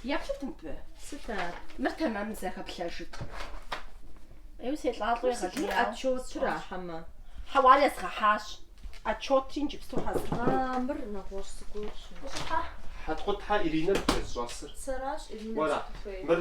Еплъыт мыбы. Сыт ар? Мыр тэмэму зэхэплъэжыт. Еу селӏалӏэу егъэлеяуэ. Отчетра хьэмэ? Хьэуэ, ар езгъэхьащ. Отчетри иджыпсту хьэзыр. А, мыр нэгъуэщӏ зыгуэрщ. Ущӏыхьэ? Хьэткъутхэ Иринэ дыхэзыщӏэсыр. Сэращ Иринэ, сыт узыхуейр? Мыр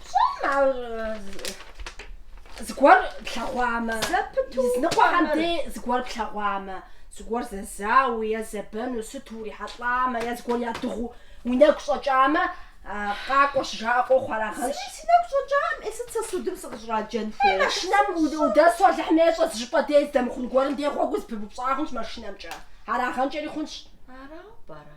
Пщӏэм ар зыгуэр плъэгъуамэ, языныкъуэхэм дей зыгуэр плъэгъуамэ, зыгуэр зэзауэу е зэбэну сыту урихьэлӏамэ, е зыгуэр ядыгъуу уи нэгу щӏэкӏамэ, къакӏуэ щыжаӏэ къохъу арагъэнщ. Зыри си нэгу щӏэкӏакъым, е сыт сэ судым сыкъыщӏраджэн хуейр? Е машинэм удэсу Алыхьым ещӏэ зыщӏыпӏэ дей здэмыхъун гуэрым дей гъуэгу зыпыбупщӏа хъунщ машинэмкӏэ, арагъэнкӏэри хъунщ. Арауэ пӏэрэ?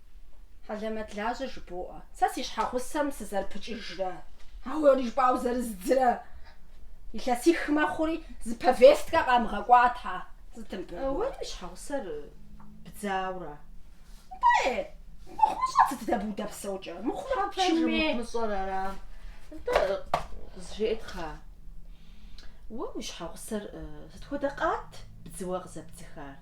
Хьэлэмэтлажьэ жыбоӏэ. Сэ си щхьэгъусэм сызэрыпыкӏыжрэ, а уэри жыпӏауэ зэрыздзрэ илъэсих мэхъури, зы повесткэ къамыгъэкӏуа тхьэ. Сытым пэ. Уэри уи щхьэгъусэр бдзауэ ара? Пэ, мыхъумыщӏэт сыт дэ быудэпсэукӏэ? Мыхъумэ пчыми. Мыщӏэр ара? Нтӏэ, къызжеӏэт хъа. Уэ уи щхьэгъусэр сыт хуэдэ къат бдзыуэ къызэбдзыхар?